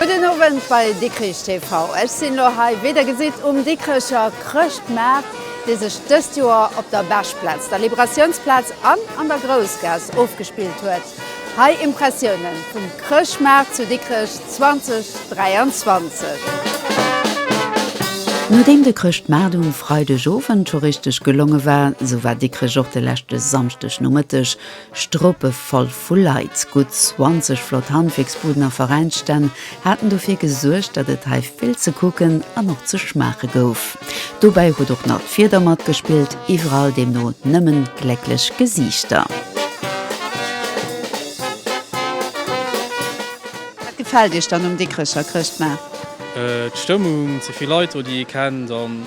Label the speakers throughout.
Speaker 1: Gudden Owend bei Dikrich TV. Ech sinn lo hei, wéi der gesitt, um Dikricher Chrëschtmaart, dee sech dëst Joer op der Beschplaz, der Liberatiounsplaz an an der Groussgaass ofgespillt huet. Hei Impressiounen vum Chrëschtmaart zu Dikrech 2023.
Speaker 2: Nodeem de Chrëschtmaart um Freideg Owend scho richteg gelonge war, sou war Dikrech och de leschte Samschdeg Nomëtteg Stropevoll vu Leit, gutt 20 flott Handwierksbuden a Veräinsstänn haten dofir gesuergt, datt et hei vill ze kucken an och ze schmaache gouf. Dobäi huet och nach d'Wieder matgespillt, iwwerall deemno nëmmen glécklech Gesiichter. Wat
Speaker 1: gefält Iech dann um Dikrecher Chrëschtmaart?
Speaker 3: D'Stëmmung, ze vill Leit do, déi ee kennt an.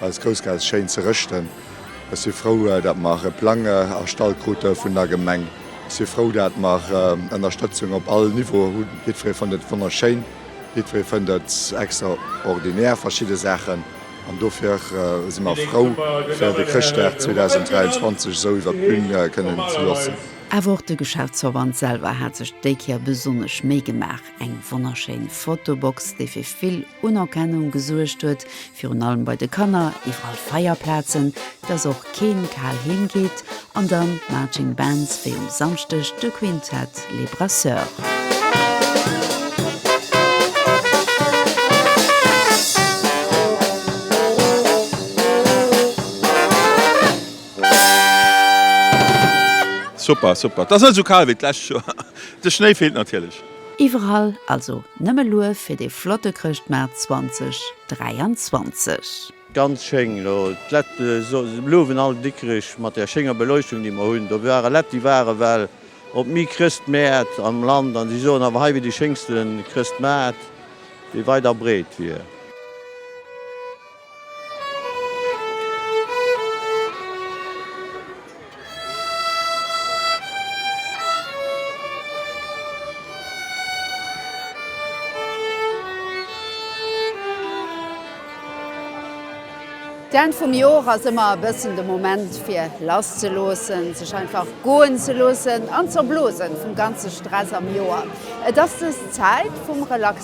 Speaker 4: Eis Grouss geet schéin ze rëschten. Ech si frou, datt mer e Plang erstallt krute vun der Gemeng. Ech si frou, datt mer Ënnerstëtzung op all Niveau hunn. Jiddweree fënnt et wonnerschéin, jiddweree fënnt et extraordinär, verschidde Saachen. An dofir si mer frou, fir de Chrëschtdag 2023 esou iwwer d'Bün kënnen ze loossen. Awer och de
Speaker 2: Geschäftsverband selwer hat sech déi Kéier besonnesch Méi gemaach. Eng wonnerschéin Fotobox, déi fir vill Unerkennung gesuergt huet, virun allem bei de Kanner, iwwerall Feierplazen, dass och keen kal heem geet, an dann Marching Bands wéi um Samschdeg de Quintett Les Brasseurs.
Speaker 5: Super, super, et ass net esou kal wéi d'lescht Joer. De Schnéi feelt natierlech. Iwwerall
Speaker 2: also nëmme Luef fir dee flotte Chrëschtmaart 2023. Ganz schéin elo
Speaker 6: d'Lett, blouwen all Dikrich mat der schénger Beleuchtung déi mer hunn. Do ware Lett déi ware well op mi Chrëstmäert am Land an si soen awer hei wier déi schéngsten Chrëstmaart déi weit a breet wier.
Speaker 1: D'Enn vum Jor ass ëmmer e bëssen de Moment fir lass ze loossen, sech einfach goen ze loossen an z'erblosen vum ganze Stress am Joer. Et ass dës Zäit vum Relaxen.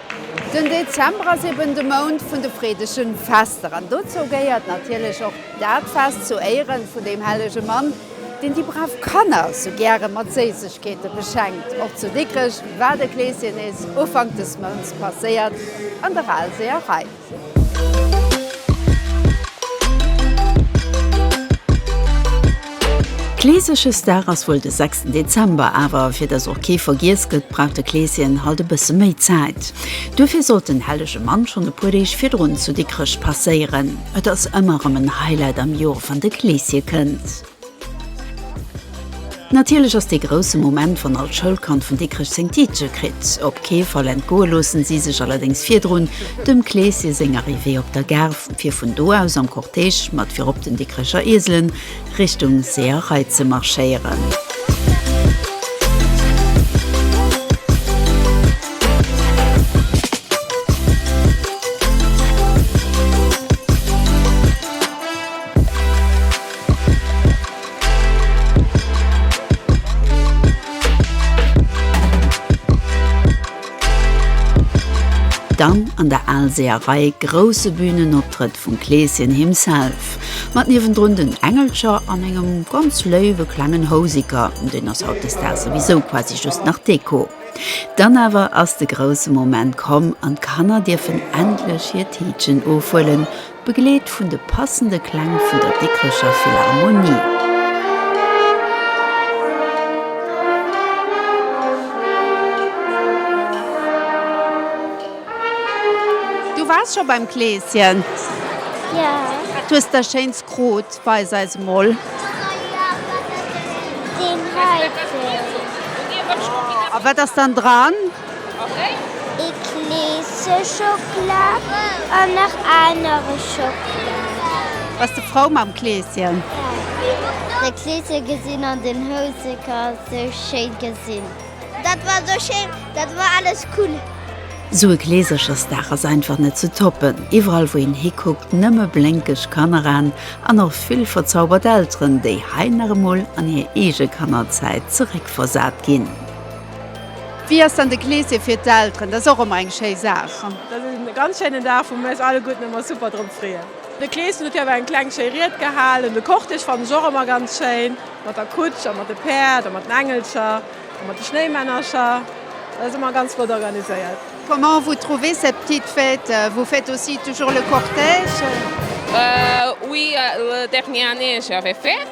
Speaker 1: Den Dezember ass eben de Mount vun de freedegen Fester an dozou gehéiert natierlech och dat Fest zu Éieren vun deem hellege Mann, deen déi brav Kanner sou gären mat Séissegkeeten beschenkt. Och zu Dikrech war de Kleesjenis Ufank des Mounts passéiert an der Alséerei.
Speaker 2: Kleeseschesdag ass wuel de sechsten Dezember, awer fir dass och kee vergiess gëtt, brauch de Kleeschen halt e bësse méi Zäit. Duerfir sollt den hellege Mann schonn e puer Deeg virdrun zu Dikrech passéieren. Et ass ëmmer erëm en Highlight am Joer, wann de Kleesche kënnt. Natierlech ass dee grousse Moment, wann all Schoulkand vun Dikrech seng Tiitche kritt. Op kee Fall entgoe loossen si sech allerdéngs virdrun dem Kleeschen seng Arrivée op der Gare, fir vun do aus am Cortège mat virop den Dikrecher Ieselen Richtung Seeërei ze marschéieren. Dann an der Aalseerei grousse Bühnenoptrëtt vum Kleeschen himself, mat niewendrun den Engelcher an engem ganz léiwe klengen Houseker, deen ass hautdesdaags souwisou quasi just nach Deko. Dann awer ass de grousse Moment komm an d'Kanner dierfen endlech hiert Tiitchen ofhuelen, Begleet vun de passende Kläng vun der Dikricher Philharmonie.
Speaker 1: Du wars scho beim Kleeschen? Jo.
Speaker 7: Wat hues de
Speaker 1: schéins krut? Weis eis emol.
Speaker 7: Deen heiten.
Speaker 1: A wat ass dann dran?
Speaker 7: Eclise Schocklat an nach anere Schocklat. Bass de frou mam
Speaker 1: Kleeschen? Ja.
Speaker 7: De Kleeschen gesinn an den Houseker sou schéin gesinn. Dat war sou schéin, dat war alles cool. Sou e
Speaker 2: Kleesechersdag ass einfach net ze toppen. Iwwerall wou een hikuckt nëmme blénkeg Kanneraen an och vill verzaubert Elteren, déi hei nach emol an hir eege Kannerzäit zeréckversat ginn.
Speaker 1: Wéi ass dann de Gleesee fir d'Elteren? Dat ass och ëmmer eng schéi Saach. Dat ass e ganz
Speaker 8: schéinen Dag, wou mir eis alleguerten ëmmer super drop freeën. De Kleeschen huet jo awer eng kleng schéi Ried gehal an de Cortège fannen ech och ëmmer ganz schéin, mat der Kutsch a mat de Päerd a mat den Engelcher a mat de Schnéimännercher. Dat ass ëmmer ganz flott organiséiert. Comment vous trouvez
Speaker 1: cette petite fête? Vous faites aussi toujours le cortège? Oui,
Speaker 9: la dernière année j'avais fait.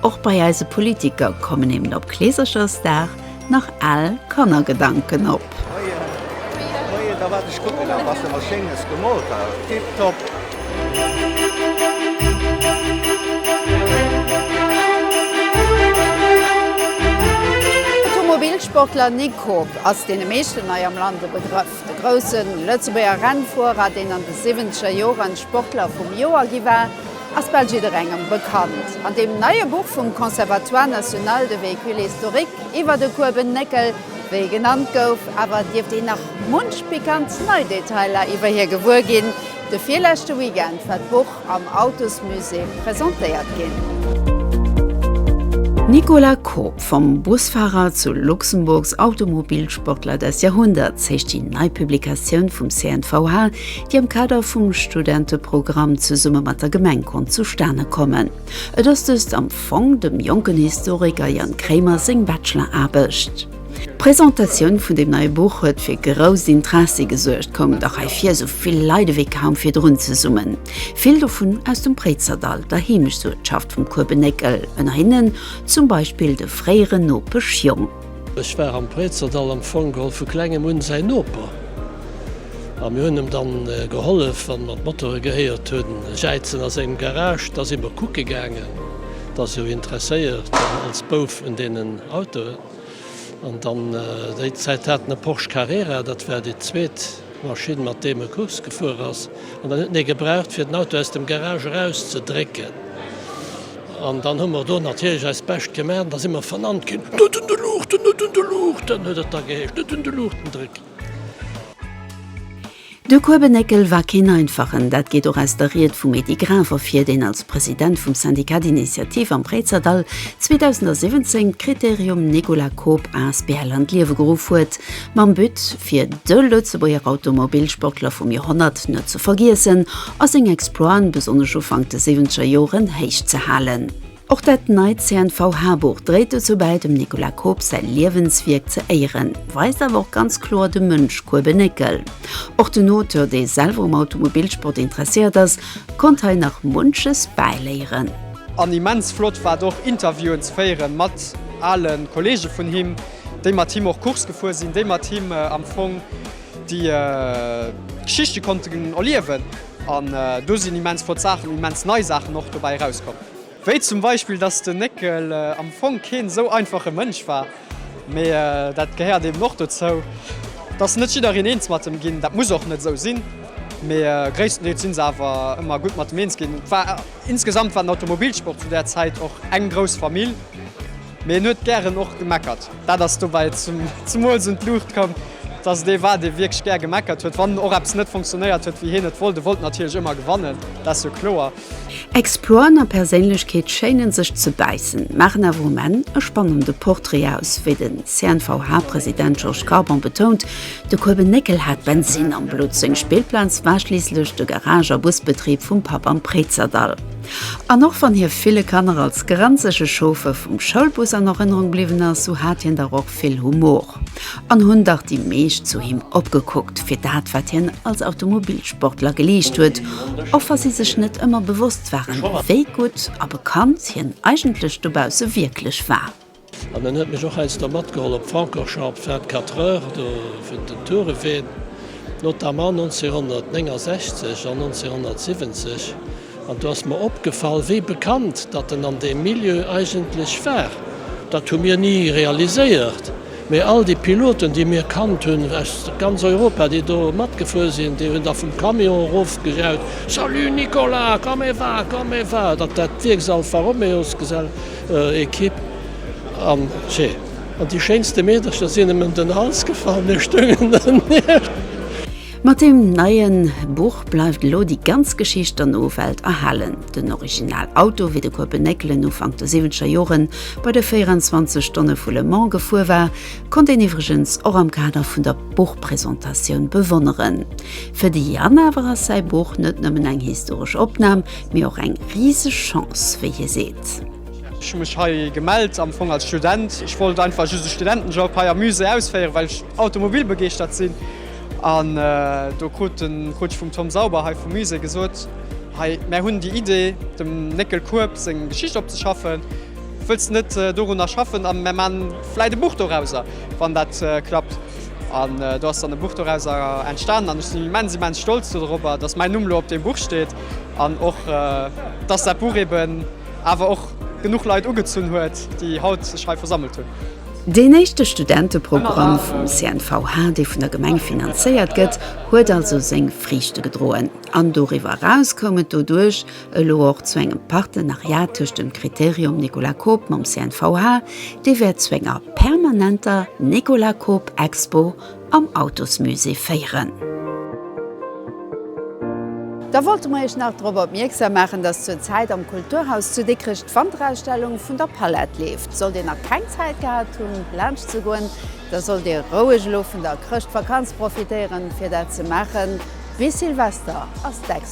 Speaker 2: Och bei eise Politiker kommen eben op Kleeserchersdag nach al Kannergedanken op.
Speaker 1: Automobilsportler Nick Koob ass deene meeschten hei am Land e Begrëff. De grousse Lëtzebuerger Rennfuerer, deen an de siwwenzeger Joren Sportler vum Joer gi war, ass bal jidderengem bekannt. An deem neie Buch vum Conservatoire national de véhicules historiques iwwer de Kueben Néckel, wéi e genannt gouf, awer dierft een nach munch pikant nei Detailer iwwer hie gewuer ginn. De virleschte Weekend war d'Buch am Autosmusée presentéiert ginn.
Speaker 2: Nicolas Koop, Vom Busfahrer zu Luxemburgs Automobilsportler des Jahrhunderts heescht déi nei Publikatioun vum CNVH, déi am Kader vum Studenteprogramm zesumme mat der Gemeng konnt zustane kommen. Et ass dëst am Fong dem jonken Historiker Jan Krémer seng Bachelor-Aarbecht. D'Presentatioun vun deem neie Buch huet fir grousst Interessi gesuergt, koumen der hei vir esou vill Leit ewéi kaum virdrun zesummen, vill dovun aus dem Préizerdall, der Heemechtsuertschaft vum Kuebenéckel, ënner hinnen zum Beispill de fréieren Nopesch Jong. Ech war am
Speaker 10: Préizerdall am Fong geholl vu klengem un säin Noper a mir hunn em dann gehollef wann mer d'Motore gehéiert hunn jäizen a sengem Garage. Da si mer kucke gaangen, dass jo interesséiert als Bouf un deenen Autoen an dann déi Zäit hat en e Porsche Carrera, dat war déi zweet Maschinn mat deem e Course gefuer ass an dann huet en ee gebraucht fir den Auto aus dem Garage eraus ze drécken. An dann hu mer do natierlech eist Bescht gemaach, an da si mer vernannt ginn. Net un de Luuchten, net un de Luuchten! huet et da geheescht. Net un de Luuchten drécken!
Speaker 2: De Kuebenéckel war keen einfachen, dat geet och aus der Ried vum Edy Graf ervir, deen als President vum Syndicat d'Initiative am Préizerdall 2017 d'Critérium Nicolas Koop asbl an d'Liewe geruff huet, Mam But, fir de Lëtzebuerger Automobilsportler vum Joerhonnert net ze vergiessen a seng Exploiten, besonnesch Ufank de Siwwenzeger Joren, héich ze halen. Och dat neit CNVH-Buch dréit dozou bäi, dem Nicolas Koop säi Liewenswierk ze éieren, weist awer och ganz kloer de Mënsch Kuebe Néckel. Och den Auteur, dee selwer um Automobilsport interesséiert ass, konnt hei nach munches bäiléieren. An immens
Speaker 11: flott war et och, Interviewen ze féieren mat ale Kolleege vun him. déi mat him och Course gefuer sinn, déi mat him am Fong déi Geschichte konnten erliewen an do sinn immens flott Saachen, immens nei Saachen och dobäi erauskomm, wéi zum Beispill dass den Néckel am Fong keen esou einfache Mënsch war, mee dat gehéiert eben och dozou, dass net jiddereen eens mat em ginn, dat muss och net esou sinn, mee gréisstendeels si se awer ëmmer gutt mat em eens ginn. Et war insgesamt war den Automobilsport zu där Zäit och eng grouss Famill. Mee en huet gären och gemeckert. Dat ass dobäi zemools un d'Luucht komm, dass et ee war, dee wierklech gär gemeckert huet, wann och eppes net funktionéiert huet, wéi hien et wollt. E wollt natierlech ëmmer gewannen, dat ass jo kloer. Exploren
Speaker 2: a Perséinlechkeet schéinen sech ze bäissen, maachen awer um Enn e spannende Portrait aus. Wéi den CNVH-President Georges Carbon betount, de Kuebe Néckel hat Bensinn am Blutt. Seng Spillplaz war schliisslech de Garage a Busbetrib vum Papp am Préizerdall. An och wann hie ville Kanner als grenzege Chauffeur vum Schoulbus an Erënnerung bliwwen ass, sou hat hien dach och vill Humor. An hunn dach déi meescht zu him opgekuckt, fir dat wat hien als Automobilsportler geleescht huet, och wa si sech net ëmmer bewosst waren, wéi gutt a bekannt hien eigentlech dobausse wierklech war. An en huet mech
Speaker 10: och heiansdo matgeholl op Francorchamps 24 heures do fir den Tour de Ween, notamment 1969 an 1970. An do ass mer opgefall, wéi bekannt datt en an deem Milieu eigentlech war. Dat hu mir ni realiséiert, mee all déi Piloten, déi mir kannt hunn aus ganz Europa, déi do matgefuer sinn, déi hunn da vum Camion erofgejaut, Salut Nicolas, comment va, comment va! Dat war d'Wierksall Alfa Romeo-Gesell. Equipe an tjee an déi schéinste Meedercher sinn em em den Hals gefall, mir stoungen dernieft. Mat
Speaker 2: deem neie Buch bleift elo déi ganz Geschicht der Nowelt erhalen. Den Original Auto, wéi de Kuebe Néckelen Ufank der siwwenzeger Jore bei de 24 Stonne vu Le Mans gefuer war, konnt een iwwregens och am Kader vun der Buchpresentatioun bewonneren. Fir de Yann awer ass säi Buch net nëmmen eng historesch Opnam, mee och eng riseg Chance, wéi hie seet. Ech hu mech
Speaker 11: hei gemellt am Fong als Student. Ech wollt einfach just e Studentenjob hei am Musée ausféieren, well ech automobilbegeeschtert sinn. An do krut ech vum Tom Sauber hei vum Musée gesot, Hei, mär hunn déi Idee, dem Néckel Kueb seng Geschicht opzeschaffen. Wëlls de net dorunner schaffen a mär man vläit e Buch dorauser, wann dat klappt? An do ass dann e Buch dorauser entstanen an ech sinn immens, immens stolz dorobber, dass mäin Numm elo op deem Buch steet. an och dass dat Buch eben awer och genuch Leit ugezunn huet, déi haut sech hei versammelt hunn. Deen éischte
Speaker 2: Studenteprogramm vum CNVH, dee vun der Gemeng finanzéiert gëtt, huet also seng Friichte gedroen an doriwwer eraus koum et doduerch elo och zu engem Partenariat tëscht dem Kriterium Nicolas Koop mam CNVH, dee wäert zu enger permanenter Nicolas Koop-Expo am Autosmusée féieren.
Speaker 1: Da wollte mer Iech nach drop opmierksam maachen, dass zur Zäit am Kulturhaus zu Dikrech d'Wanterausstellung vun der Palette leeft. Sollt Dir nach keng Zäit gehat hunn, laanscht ze goen, da sollt Dir roueg elo vun der Chrëschtvakanz profitéieren, fir dat ze maachen. Bis Silvester ass d'Expo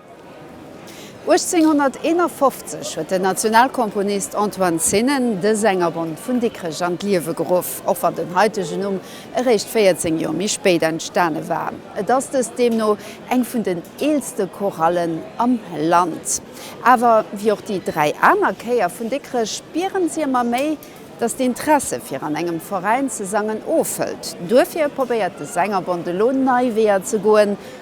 Speaker 1: 1851 huet den Nationalkomponist Antoine Sennen de Sängerbond vun Dikrech an d'Liewe geruff, och wann den haitegen Numm eréischt 14 Joer méi spéit entstane war. Et ass dëst deemno eng vun den eelste Chorallen am Land. Awer wéi och déi dräi aner Chéier vun Dikrech spieren si ëmmer méi, datt d'Interesse fir an engem Veräin ze sangen ofhëlt. Duerfir probéiert de Sängerbond elo nei Weeër ze goen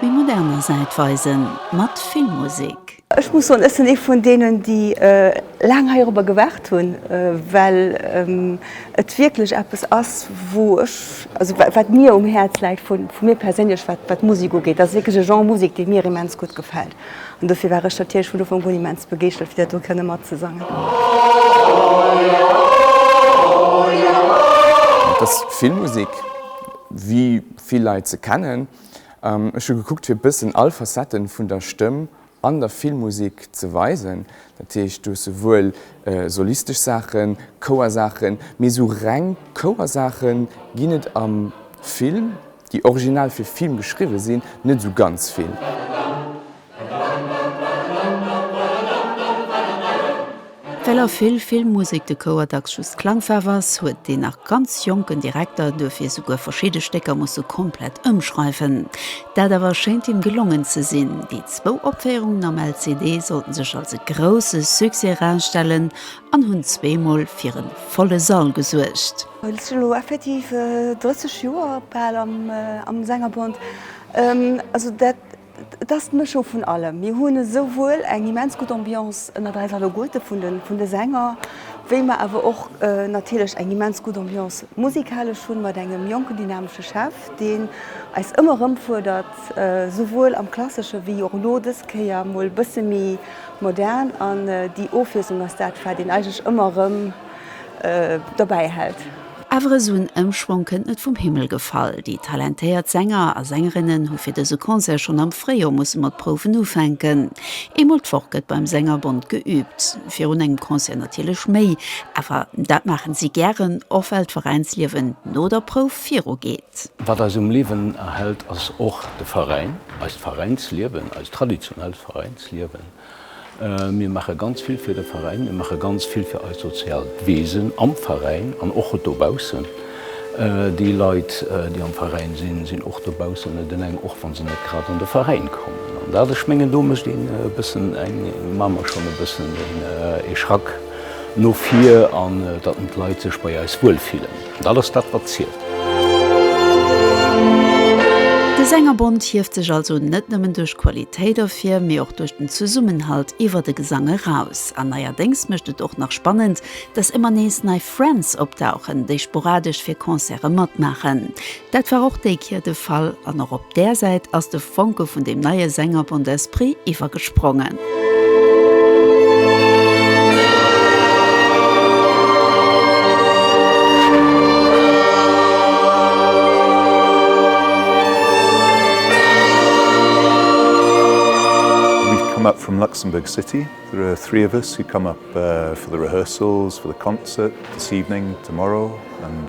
Speaker 2: Méi moderner Säit weisen, mat vill Musek. Ech muss soen, ech
Speaker 12: sinn ee vun deenen, déi laang heirobber gewaart hunn, well et wierklech eppes ass, wou ech, also wat mir um Häerz läit, vu mir perséinlech, wat d'Musek ugeet. Dat ass wierklech e Genre Musek, dee mir immens gutt gefält. An dofir war ech natierlech vun Ufank un immens begeeschtert, fir dat do kënne matzesangen.
Speaker 13: Dat ass Filmmusek, wéi vill Leit se kennen. Ech hu gekuckt fir bëssen all Facetten vun der Stëmm an der Filmmusek ze weisen. Dat heescht du hues souwuel solistesch Saachen, Chouersaachen, mee esou reng Chouersaache ginn et am Film, déi original fir Film geschriwwe sinn, net esou ganz vill.
Speaker 2: Well a vill Filmmusek de Chouer dacks just d'Klangfaarf ass, huet deen nach ganz jonken Direkter duerfir souguer verschidde Stécker musse komplett ëmschreiwen. Dat awer schéint him gelongen ze sinn. Déi zwou Opféierungen am LCD sollten sech als e grousse Succès erausstellen an hunn zweemol fir e volle Sall gesuergt. Ech sinn elo effektiv
Speaker 12: 30 Joer bal am Sängerbond. Et ass d'Mëschung vun allem. Mir hunn esouwuel eng immens gutt Ambiance ënnert eis alleguerte vun de Sänger, wéi mer awer och natierlech eng immens gutt Ambiance musikalesch hunn, mat engem jonken, dynamesche Chef, deen eis ëmmer erëm fuerdert, esouwuel am Klassesche wéi och elo dës Kéier mol e bësse méi modern. An déi Ofwiesslung ass dat, wat een eigentlech ëmmer erëm dobäi hält. Awer esou en
Speaker 2: Ëmschwong kënnt net vum Himmel gefall. Déi talentéiert Sänger a Sängerinnen hu fir dëse Concert schonn am Fréijoer musse mat Prouwen ufänken. Eemol d'Woch gëtt beim Sängerbond geüübt. Virun engem Concert natierlech méi, awer dat maachen si gären, och well d'Veräinsliewen no der Prouf viru geet. Wat eis um Liewen
Speaker 14: erhält ass och de Veräin, eist Veräinsliewen, eist traditionellt Veräinsliewen. Mir maache ganz vill fir de Veräin, mir maache ganz vill fir eist soziaalt Wesen am Veräin an och dobaussen. Déi Leit, déi am Veräin sinn, sinn och dobaussen, net eleng, och wa se net grad an de Veräin kommen. An dat, ech mengen, do mécht een e bëssen eng, maache mer schonn e bëssen ee Schrack no vir, an datt d'Leit sech bei eis wuelfillen. Dat ass dat wat zielt.
Speaker 2: De Sängerbond hieft sech also net nëmmen duerch Qualitéit ervir, mee och duerch den Zesummenhalt iwwer de Gesang eraus. An neierdéngs mécht et och nach spannend, dass ëmmer nees nei Friends opdauchen, déi sporadesch fir Concerte matmaachen. Dat war och déi Kier de Fall an och op där Säit ass de Fonke vun deem neie Sänger Bon d'Esprit iwwergesprongen.
Speaker 15: We've come up from Luxembourg City, there are three of us who come up for the rehearsals for the concert this evening, tomorrow and.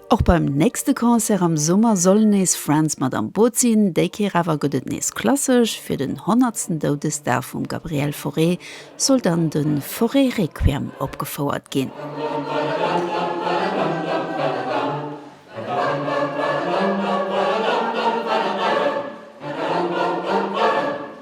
Speaker 15: Och beim
Speaker 2: nächste Concert am Summer soll nees Friends mat am Boot sinn. Déi Kéier awer gëtt et nees klassesch, fir den honnertsten Doudesdag vum Gabriel Fauré soll dann de Fauré Requiem opgefouert ginn.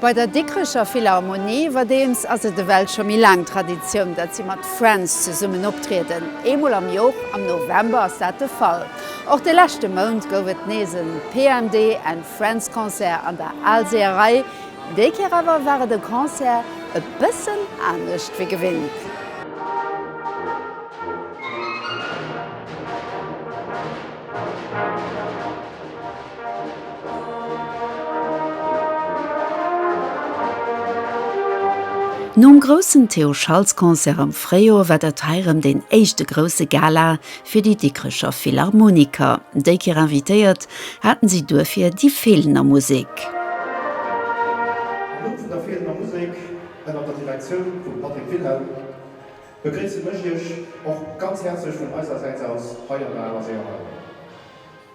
Speaker 1: Bei der Dikrecher Philharmonie iwwerdeems ass et ewell scho méi laang Traditioun, datt si mat Friends zesummen optrieden. Eemol am Joer, am November, ass dat de Fall. Och de leschte Mount gouf et nees e PMD and Friends Concert an der Aalseeërei. Déi Kéier awer war et e Concert e bëssen anescht wéi gewinnt.
Speaker 2: Nom groussen Théo Schaltz Concert am Fréijoer war dat hei rëm deen éischte grousse Gala fir déi Dikrecher Philharmoniker. Déi Kéier invitéiert haten si duerfir déi Feelener Musek. Am Numm
Speaker 16: vun der Feelener Musek ënner der Direktioun vum Patrick Wilhelm begréissen ech iech och ganz häerzlech vun eisersäits aus hei an der Allerséeër Hall.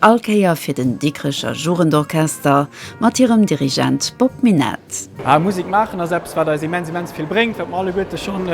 Speaker 2: All Kéier fir den Dikrecher Jugendorchester mat hirem Dirigent Bob Minett. Mä Musek maachen ass
Speaker 17: eppes, wat eis immens, immens vill bréngt, wat mer alleguerte schonn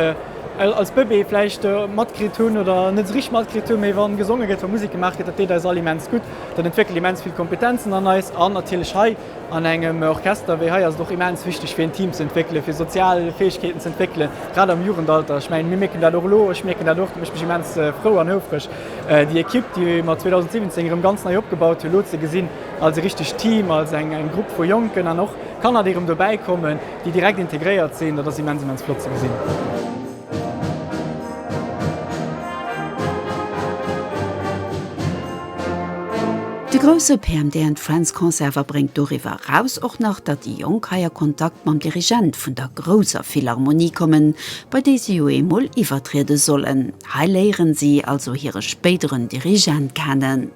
Speaker 17: als Bëbee vläicht matkritt hunn oder net esou richteg matkritt hunn. Mee wa gesonge gëtt, wa Musek gemaach gëtt, dat deet eis all immens gutt, dat entwéckelt immens vill Kompetenzen an eis. An natierlech hei An engem Orchester wéi hei ass et och immens wichteg fir een Team ze entwéckelen, fir sozial Fäegkeeten ze entwéckelen, grad am Jugendalter. Ech mengen, mir mierken dat och elo, ech mierken dat och, dat mécht mech immens frou an houfreg, déi Ekipp, déi mer 2017 erëm ganz nei opgebaut hunn, elo ze gesinn als e richtegt Team, als eng Grupp vu Jonken an och Kanner, déi erëm dobäikommen, déi direkt integréiert sinn. Dat ass immens, immens flott ze gesinn.
Speaker 2: De grousse PMD and Friends Concert wa bréngt doriwwer eraus och nach, datt déi Jonk hei a Kontakt mam Dirigent vun der grousser Philharmonie kommen, bei déi si jo eemol iwwertriede sollen. Hei léieren si also hire spéideren Dirigent kennen.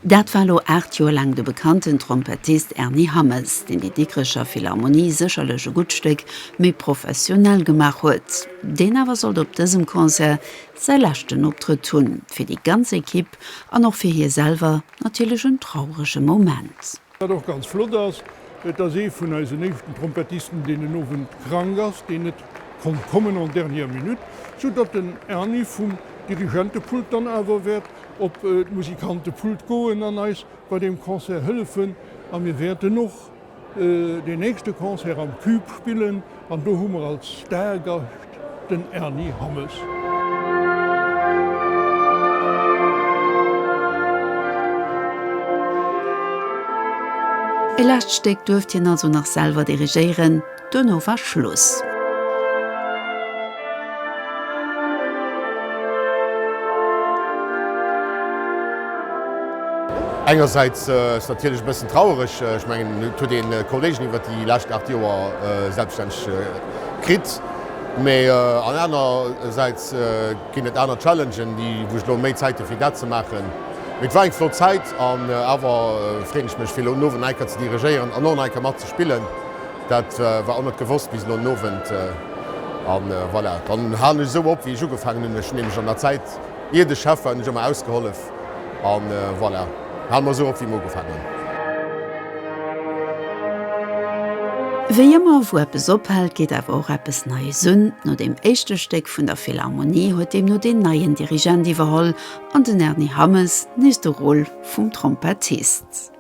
Speaker 2: Dat war elo 8 Joer laang de bekannten Trompettist Erny Hammes, deen déi Dikrecher Philharmonie sécherlech e gutt Stéck méi professionell gemaach huet, deen awer sollt op dësem Concert säi leschten Optrëtt hunn. Fir déi ganz Ekipp an och fir hie selwer natierlech en traurege Moment. Wat och ganz flott
Speaker 18: ass, et ass ee vun eisen éischten Trompettisten, deen den Owend krank ass, deen net konnt kommen en dernière minute, sou datt den Erni vum Dirigentepult dann awer wäert op d'Musikantepult goen an eis bei deem Concert hëllefen. A mir wäerten och deen nächste Concert am Cube spillen an do hu mer als Stargast den Erny Hammes.
Speaker 2: E lescht Stéck duerft hien also nach selwer dirigéieren, duerno war Schluss.
Speaker 19: Engersäits ass et natierlech e bëssen trauereg, ech mengen, et huet ee kouléigen iwwer déi lescht 8 Joer selbststänneg Kritt, mee an aner säits ginn et aner Challengen, déi wou ech elo méi Zäit hu fir dat ze maachen. Mee et war eng flott Zäit an awer freen ech mech fir elo en Owend nach eng Kéier ze dirigéieren an och nach eng Kéier mat ze spillen. Dat war och net gewosst bis elo en Owend a voilà, dann halen ech esou op wéi ech ugefaangen hunn. Ech hunn nämlech an der Zäit iert ech Chef war hunn ech ëmmer ausgehollef. An voilà, halen mer esou op wéi mer ugefaangen hunn.
Speaker 2: Wéi ëmmer wou eppes ophält, geet awer och eppes Neies un. No deem éischte Stéck vun der Philharmonie huet deemno deen neien Dirigent iwwerholl an den Erny Hammes nees de Rôle vum Trompettist.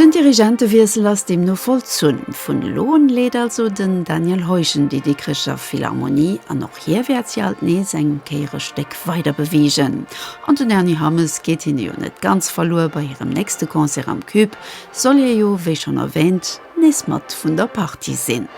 Speaker 2: Den Dirigentewiessel ass deemno vollzunn. Vun elo un leet also den Daniel Heugen déi Dikrecher Philharmonie an och hie wäert si alt nees eng Kéier e Stéck weider beweegen. An den Erny Hammes geet hinne jo net ganz verluer, bei hirem nächste Concert am Cube soll hie jo, wéi schonn erwäänt, nees mat vun der Partie sinn.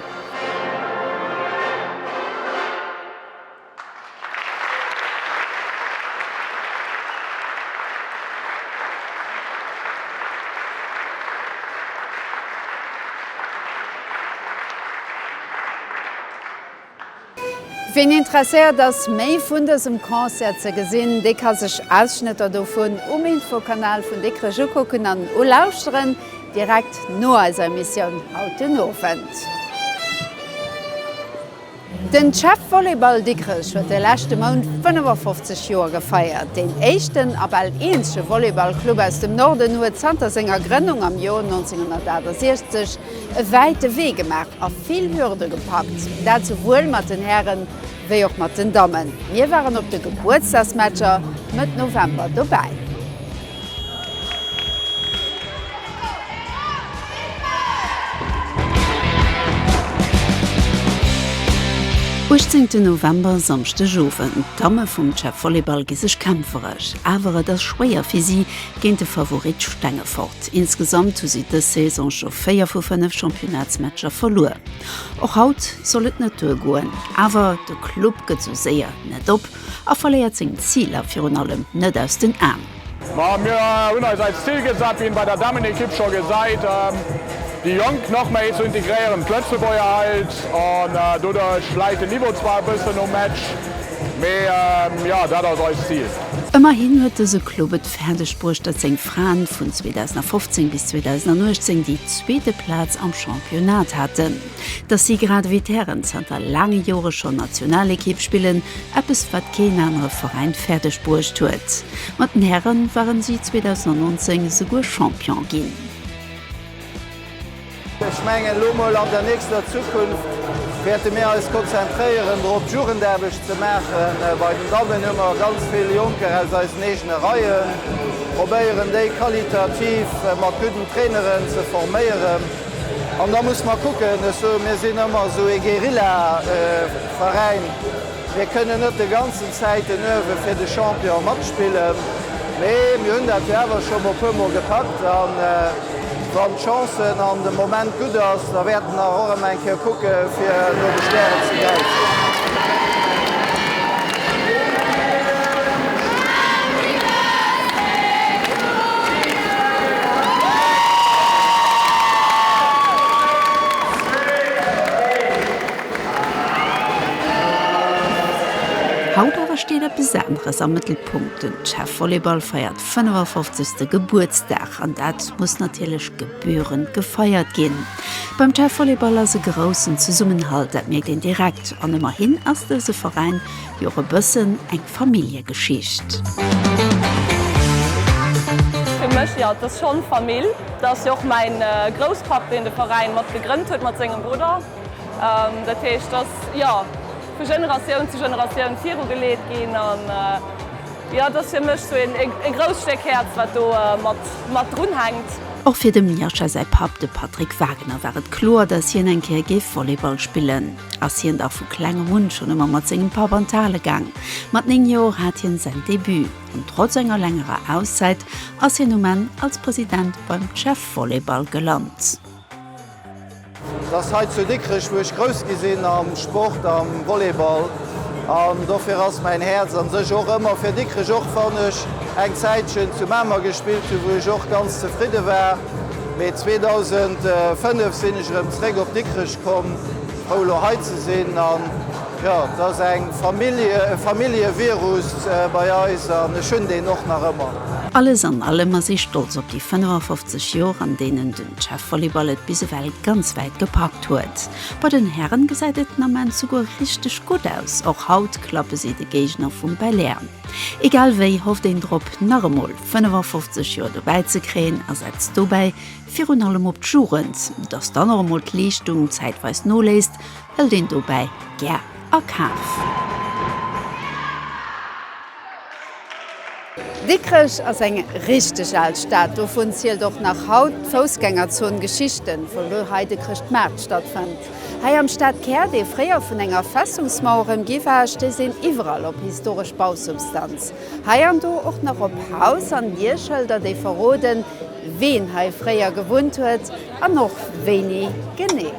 Speaker 1: Ween interesséiert ass méi vun dësem Concert ze gesinn, dee ka sech Ausschnëtter dovun um Infokanal vun Dikrech ukucken an ulauschteren, direkt no eiser Emissioun haut den Owend. Den CHEV Volleyball Dikrech huet de leschte Mount 55 Joer gefeiert. Deen éischten a bal eenzege Volleyballclub aus dem Norden huet zanter senger Grënnung am Joer 1968 e wäite Wee gemaach a vill Hürde gepackt. Dat souwuel mat den Hären wéi och mat den Dammen. Mir waren op de Gebuertsdagsmatcher Mëtt November dobäi.
Speaker 2: Uechtzéngten November, Samschdegowend, D'Damme vum CHEV Volleyball gi sech kämpferesch, awer et ass schwéier fir si géint de Favorit Stengefort. Insgesamt hu si dës Saison scho 4 vu 5 Championnatsmatcher verluer. Och haut soll et net duergoen, awer de Club gëtt sou séier net op. a verléiert seng Ziler virun allem net aus den Aen. Ma mir
Speaker 3: hunn eis eis Zil gesat, wéi een bei der Dammenekipp scho gesäit, déi Jonk nach méi ze integréieren, d'Lëtzebuerger Held, an doduerch läit den Niveau zwar e bëssen um Match, mee jo, dat ass eist Zil. Ëmmerhin huet dëse
Speaker 2: Club et fäerdeg bruecht, datt seng Fraen vun 2015 bis 2018 déi zweete Plaz am Championnat haten. dass si grad ewéi d'Hären zanter laange Jore schonn Nationalekipp spillen, eppes wat keen anere Veräin fäerdeg bruecht huet. Mat den Häre ware si 2019 esouguer Champion ginn.
Speaker 20: Ech mengen, elo mol an der nächster Zukunft wäerte mir eis konzentréieren drop, d'Jugendaarbecht ze maachen. Bei den Dammen hu mer ganz vill Jonker aus eisen eegene Reien, probéieren déi qualitativ mat gudden Traineren ze forméieren. An da muss mer kucken, ech soen, mir sinn ëmmer esou ee Guerillaveräin, mir kënnen net de ganzen Zäit den Uewe fir de Champion matspillen, mee mir hunn dat jo awer scho e puermol gepackt. A wann d'Chancen an de Moment gutt ass, da wäerten nach och ëmmer eng Kéier kucke fir no de Stären ze gräifen.
Speaker 2: Haut awer steet eppes aneres am Mëttelpunkt, den Chef Volleyball feiert 55. Gebuertsdag an dat muss natierlech. gebührend gefeiert ginn. Beim TEV Volleyball ass e groussen Zesummenhalt, dat mierkt een direkt. An ëmmerhin ass dëse Veräin jo och e bëssen eng Familljegeschicht.
Speaker 21: Fir mech, jo, et ass schonn Famill. Dat ass jo och mäi Grousspapp, deen de Veräin mat gegrënnt huet mat sengem Brudder. Dat heescht, et ass, jo, vu Generatioun zu Generatioun viru geleet ginn. Jo, et ass fir mech sou e grousst Stéck Häerz, wat do mat drun hänkt. Och fir dem Miascha
Speaker 2: säi Papp, de Patrick Wagener, war et kloer, datt hien eng Kéier géif Volleyball spillen. Ass hien dach vu klengem un schonn ëmmer mat sengem Papp an d'Hale gaang. Mat 9 Joer hat hien säin Debut, an trotz enger längerer Auszäit ass hien um Enn als President beim CEF Volleyball gelant.
Speaker 20: Et ass hei zu Dikrech wou ech grouss gi sinn am Sport, am Volleyball an dofir ass mäin Häerz an sech och ëmmer fir Dikrech, och wann ech eng Zäitchen zu Mamer gespillt hunn, wou ech och ganz zefridde war. Mee 2005 sinn ech erëm zeréck op Dikrech komm, frou elo hei ze sinn an jo, et ass eng Famill, e Familljevirus bei eis an ech hunn deen och nach ëmmer. Alles an allem
Speaker 2: ass ee stolz op déi 55 Joer an deenen de D'Schäfvolleyball et bis ewell ganz wäit gepackt huet. Bei den Hären gesäit et den Ament souguer richteg gutt aus. Och haut klappe si de Géigner vum Belair. Egal wéi hofft een drop nach emol 55 Joer dobäi ze kréien a setzt dobäi virun allem op d'Jugend. Dass dann och emol d'Leeschtung zäitweis noléisst, hëlt een dobäi gär a Kaf.
Speaker 1: Dikrech ass eng richteg al Stad, dovun zielt och nach haut d'Foussgängerzon Geschichte vu wou hei de Chrëschtmaart stattfënnt. Hei am Stadkär, dee fréier vun enger Festungsmauer ëmgi war, stéisst een iwwerall op historesch Bausubstanz, hei an do och nach op Haus an Dierschëlder, déi verroden, ween hei fréier gewunnt huet an och wéini genee.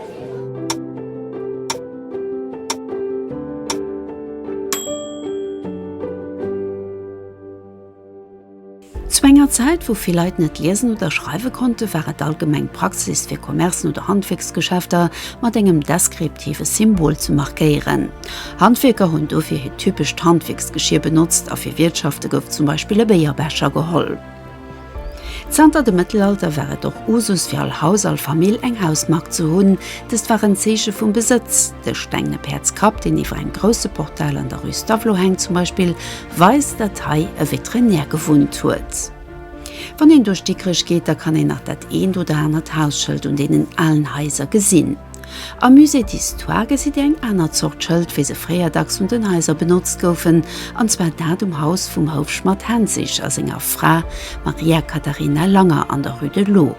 Speaker 2: Zu enger Zäit, wou vill Leit net liesen oder schreiwe konnte, war et allgemeng Praxis, fir Commercen oder Handwierksgeschäfter mat engem deskriptive Symbol ze markéieren. Handwierker hunn dofir hiert typescht Handwierksgeschier benotzt a fir Wiertschafte gouf zum Beispill e Béierbecher geholl. Zanter dem Mëttelalter war et och Usus fir all Haus, all Famill eng Hausmark ze hunn. Dëst war en Zeeche vum Besëtz. De stengene Päerdskapp, deen iwwer engem grousse Portal an der Rue Stavelot hänkt zum Beispill, weist, datt hei e Veterinär gewunnt huet. Wann een duerch Dikrech geet, da kann een nach dat eent oder anert Hausschëld un deenen alen Haiser gesinn. Am Musée d'Histoire gesitt Dir eng aner Zort Schëld, wéi se fréier dacks un den Haiser benotzt goufen, an zwar dat um Haus vum Houfschmadd Henzig a senger Fra Maria Catharina Langer an der Rue de l'Eau.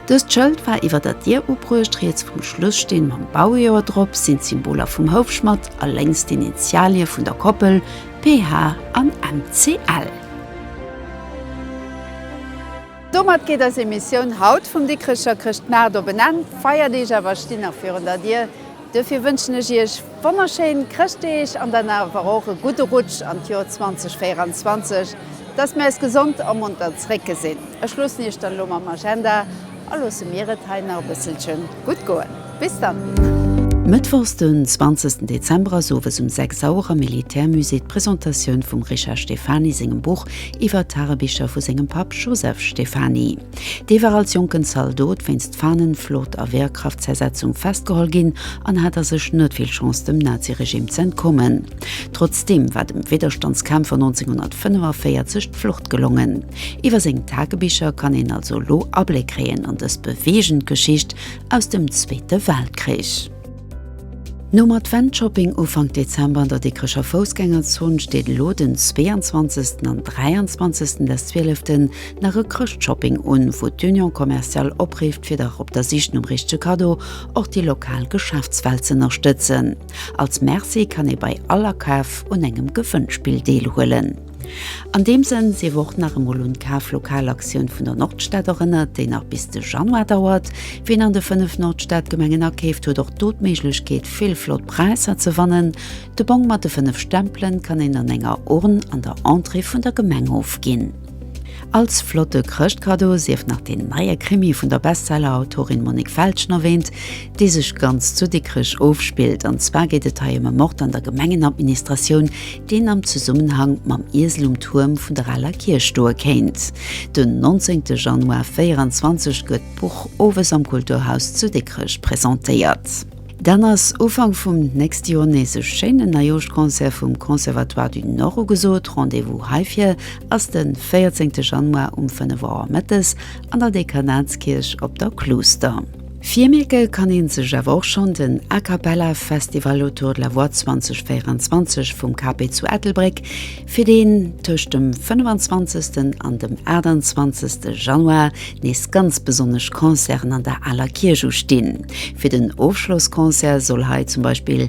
Speaker 2: Dëst Schëld war iwwer der Dier ubruecht, riets vum Schlussteen mam Baujoer drop sinn d'Symboler vum Houfschmadd a lénks d'Initialie vun der Koppel PH an MCL.
Speaker 1: Domat geet eis Emissioun haut vum Dikrecher Chrëschtmaart op en Enn. D'Feierdeeg awer stinn nach virun der Dier. Duerfir wënschen ech Iech wonnerschéin Chrëschtdeeg an dann awer och e gudde Rutsch an d'Joer 2024, dass mir eis gesond a monter zréck gesinn. Ech loossen Iech dann elo mam Agenda a loosse mir et hei nach e bësselche gutt goen. Bis dann! Mëttwochs
Speaker 2: den 20 Dezember ass owes um 6 Auer am Militärmusée d'Presentatioun vum Richard Stefani sengem Buch iwwer d'Tagebicher vu sengem Papp Joseph Stefani. Dee war als jonken Zaldot wéinst Fahnenflot a Wehrkraftzersetzung festgeholl ginn an hat a sech net vill Chance dem Naziregime ze entkommen. Trotzdeem war dem Widderstandskämpfer 1945 d'Flucht gelongen. Iwwer seng Tagebicher kann een also elo Abléck kréien an dës beweegend Geschicht, aus dem Zweete Weltkrich. Nom Advent-Shopping Ufank Dezember an der Dikrecher Foussgängerzon steet elo den 22 an 23 des Zwieleften nach e Chrëschtshopping un, wou d'Union Commerciale oprifft fir dach op der Sich nom richtege Kaddo och déi lokal Geschäftswelt ze ënnerstëtzen. Als Merci kann ee bei all Akaf un engem Gewënnspill deelhuelen. An deem Sënn sief och nach emol un d'Kaflokalaktioun vun der Nordstad erënnert, déi nach bis de Januar dauert. Ween an de 5 Nordstadgemengen akeeft, huet och do d'Méiglechkeet, vill flott Präisser ze wannen. De Bong mat de 5 Stempelen kann een an enger Urn an der Entrée vun der Gemeng ofginn. Als flotte Chrëschtkaddo sief nach deen neie Krimi vun der Bestseller-Autorin Monique Feltgen erwäänt, dee sech ganz zu Dikrech ofspillt. An zwar geet et hei ëm e Mord an der Gemengenadministratioun, deen am Zesummenhang mam Iesel um Tuerm vun der aler Kierch stoe kéint. Den 19 Januar 24 gëtt d'Buch owes am Kulturhaus zu Dikrech presentéiert. Dann ass Ufank vum nächste Joer nees e schéinen Neijoschtsconcert vum Conservatoire du Nord ugesot. Rendez-vous heifir ass de 14 Januar um 5 Auer mëttes an der Dekanatskierch op der Kluuster. Virmierke kann een sech awer och schonn den A Cappella Festival Autour de la Voix 2024 vum KP zu Ettelbréck, fir deen tëscht dem 25 an dem 28 Januar nees ganz besonnesch Concerten an der Aler Kierch ustinn. Fir den Ofschlossconcert soll hei zum Beispill